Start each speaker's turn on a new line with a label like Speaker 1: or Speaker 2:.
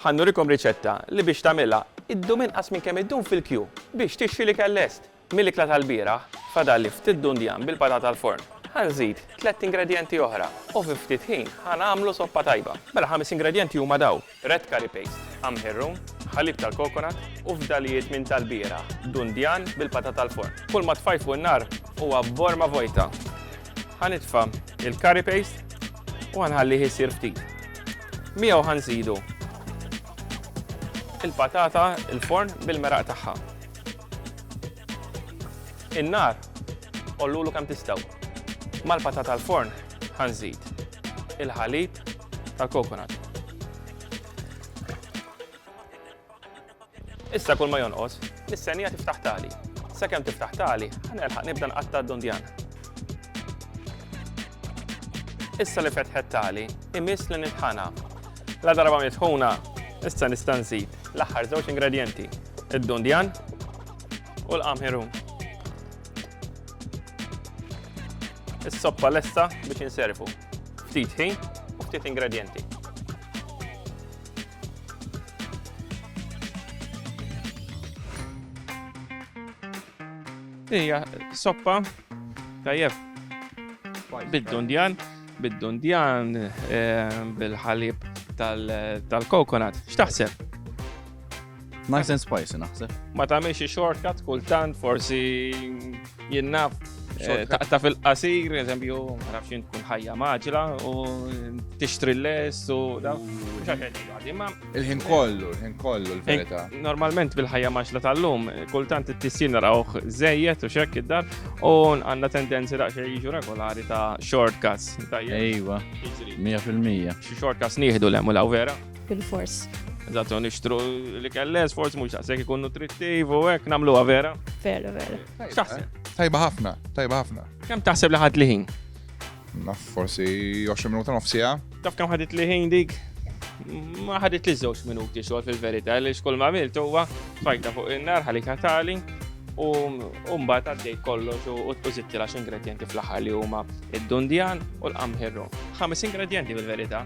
Speaker 1: Ħa nurikom riċetta li biex tagħmilha ddum inqas minn kemm iddum fil-kju biex tixtri l-ikel lest. Mill-ikla tal-bieraħ fadalli ftit dundjan bil-patata l-forn. Ħa nżid tlett ingredjenti oħra u fi ftit ħin ħa nagħmlu soppa tajba. Mela ħames ingredjenti huma dawn. Red curry paste, qamħir rum, ħalib tal-kokonat u fdalijiet minn tal-bieraħ, dundjan bil-patata l-forn. Kull ma tfajfu n-nar huwa borma vojta. Ħa nitfa' il-curry paste u ħanħallih isir ftit. Miegħu ħanżidu il-patata il-forn bil-meraq tagħha. In-nar ollulu kemm tistgħu. Mal-patata l-forn ħanżid il-ħalib tal-kokonat. Issa kull ma jonqos, nistennija tiftaħ tali. Sakemm tiftaħ tali, ħa nelħaq nibda nqatta' d-dundjan. Issa li fetħet tali, imiss li nitħana. La darba mitħuna, issa nista' nżid l-aħħar żewġ ingredjenti, id-dundjan u l-qamħirum. Is-soppa lesta biex inservu. Ftit ħin u ftit ingredjenti. Ija, soppa, tajjeb. Bid-dundjan, bid-dundjan, eh, bil-ħalib tal-kokonat. X'taħseb? Nice and spicy naħseb. Ma tagħmilx xi shortcut kultant forsi jinnaf eh, taqta fil-qasir, eżempju, nafx jien tkun ħajja maġla u tixtri l-les u da. Il-ħin kollu, il-ħin kollu l-verità. Eh, normalment bil-ħajja maġla tal-lum, kultant it-tissin narawh żejjed u xekk id-dar u għandna tendenzi daqsxejn jiġu regolari ta' shortcuts. Ejwa, 100%. Xi shortcuts nieħdu l-hemm u vera. Bil-fors. Eżatt, nixtru li kelles, forsi mhux taqsek ikun nutrittiv u hekk nagħmluha vera. Vera, vera. X'taħseb? Eh? Tajba ħafna, tajba ħafna. Kemm taħseb li ħadd liħin? Naf forsi 20 minuta nofsija. Taf kemm ħadet liħin dik? ma ħadit li żewġ minuti xogħol fil-verità li xkull ma għamilt huwa fajta fuq in-nar ħalik ħatali u mbagħad għaddej kollox u tpużitti l-għax ingredienti fl-aħħar li huma id-dundjan u l-qamħirru. Ħames ingredienti fil-verità